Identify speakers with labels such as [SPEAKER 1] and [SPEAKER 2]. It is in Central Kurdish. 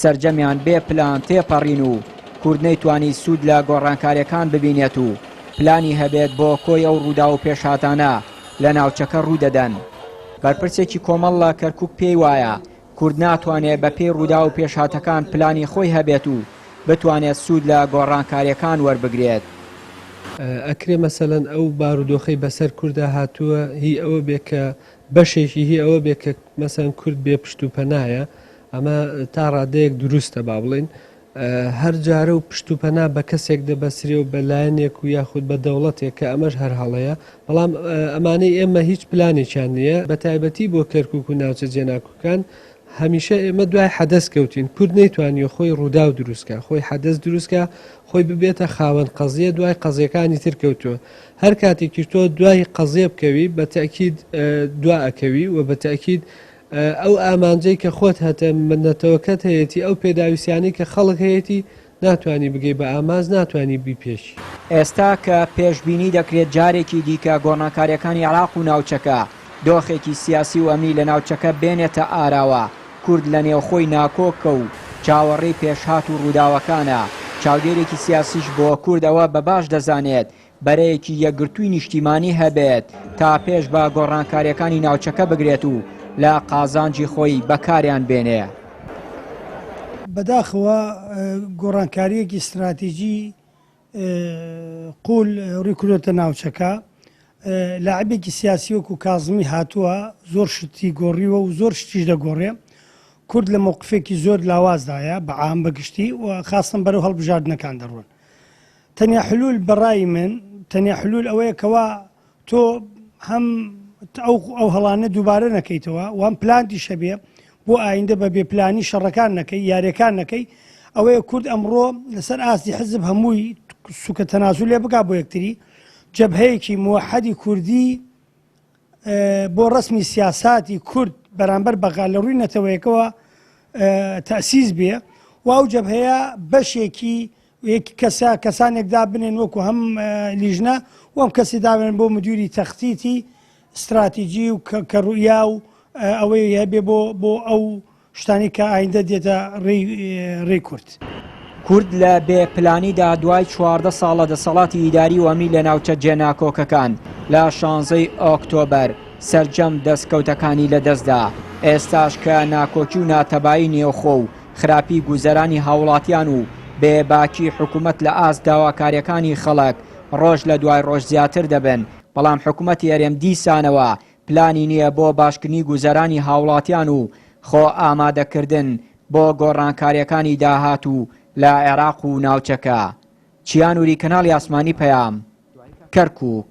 [SPEAKER 1] سەرجەمیان بێ پلان تێپەڕین و کورد نەیتوانی سوود لە گۆڕانکاریەکان ببینێت و پلانی هەبێت بۆ کۆی ئەو ڕووداو و پێشهاتانە لە ناوچەکە ڕوودەدەن. بەرپرسێکی کۆمەڵ لە کەرکوک پێی وایە کورد ناتوانێت بە پێی ڕووداو و پێشهاتەکان پلانی خۆی هەبێت و بتوانێت سوود لە گۆڕانکاریەکان وەربگرێت.
[SPEAKER 2] ئەکرێ مەسەلەن ئەو بارودۆخەی بەسەر کوردا هاتووە هی ئەوە بێ کە بەشێکی هی ئەوە بێ کە مەسەلەن کورد بێ پشت و پەنایە، ئەمە تا ڕادەیەک دروستە با بڵێین هەر جارە و پشت و پەنا بە کەسێک دەبەسرێ و بە لایەنێک و یاخود بە دەوڵەتێک کە ئەمەش هەر هەڵەیە بەڵام ئەمانەی ئێمە هیچ پلانێکیان نییە بە تایبەتی بۆ کەرکک و ناوچە جێناکوکان هەمیشە ئێمە دوای حەدەست کەوتین کورد نەیتوانیە خۆی ڕوودا و دروستکە خۆی حەدەست دروستکە خۆی ببێتە خاوەن قەزیە دوای قەزیەکانی تر کەوتووە هەر کاتێکی تۆ دوای قەزیە بکەوی بە تاکیید دواکەوی و بە تاکیید ئەو ئامانجەی کە خۆت هەتە نەتەوەکەت هەیەتی ئەو پێداویستیانەی کە خەڵک هەیەتی ناتوانی بگەی بە ئامانج ناتوانی بیپێکی. ئێستا کە
[SPEAKER 1] پێشبینی دەکرێت جارێکی دیکە گۆڕناکاریەکانی عێراق و ناوچەکە دۆخێکی سیاسی و ئەمنی لە ناوچەکە بێنێتە ئاراوە کورد لە نێوخۆی ناکۆکە و چاوەڕێی پێشهات و ڕووداوەکانە چاودێرێکی سیاسیش بۆ کورد ئەوە بە باش دەزانێت بەرەیەکی یەکگرتووی نیشتیمانی هەبێت تا پێش بە گۆڕانکارییەکانی ناوچەکە بگرێت و لە قازانجی خۆی بەکاریان بێنێ. بەداخەوە
[SPEAKER 3] گۆڕانکارییەکی ستراتیجی قوول ڕووی کردۆتە ناوچەکە. لاعبێکی سیاسی وەکوو کازمی هاتووە زۆر شتی گۆڕیوە و زۆر شتیش دەگۆڕێ. کورد لە مەوقفێکی زۆر لاوازدایە بە عام بە گشتی و خاستەن بەرەو هەڵبژاردنەکان دەڕۆن. تەنیا حلول بەڕای من تەنیا حلول ئەوەیە کەوا تۆ هەم ئەو ئەو هەڵانە دووبارە نەکەیتەوە وام پلانتی شەبێ بۆ ئایندە بە بێپلانی شەڕەکان نەکەی یاریەکان نەکەی ئەوەیە کورد ئەمڕۆ لەسەر ئاستی حزب هەمووی سوکە تەناسو لێ بک بۆ یەکتری جەبهەیەکی موحدی کوردی بۆ ڕسمی سیاساتی کورد بەرامبەر بەغا لە ڕووی نەتەوەیەکەوە تەسیز بێ و ئەو جەبهەیە بەشێکی وەک کەسە کەسانێک دابنێن وەکو هەم لیژنە وەم کەسی دابنێن بۆ مدیوری تەختیتی استراتیجی و کە ڕوئیا و ئەوەی هەبێ بۆ بۆ ئەو شتانی کە ئایندە دێتە ڕێ کورد. کورد لە
[SPEAKER 1] بێ پلانیدا دوای چواردە ساڵ لە دەسەڵاتی ئیداری وەمی لە ناوچە جێناکۆکەکان لە شانزەی ئۆکتۆبەر سەرجەم دەستکەوتەکانی لەدەستدا ئێستاش کە ناکۆکی و ناتەبایی نێوخۆ و خراپی گوزەرانی هاوڵاتیان و بێ باکی حکومەت لە ئاست داواکاریەکانی خەڵک ڕۆژ لە دوای ڕۆژ زیاتر دەبن، بەڵام حکومەتی هەرێم دیسانەوە پلانی نیە بۆ باشکردنی گوزەرانی هاوڵاتیان و خۆ ئامادەکردن بۆ گۆڕانکاریەکانی داهاتوو لە عێراق و ناوچەکە. چیا نوری کەناڵی ئاسمانی پەیام. کەرکوک.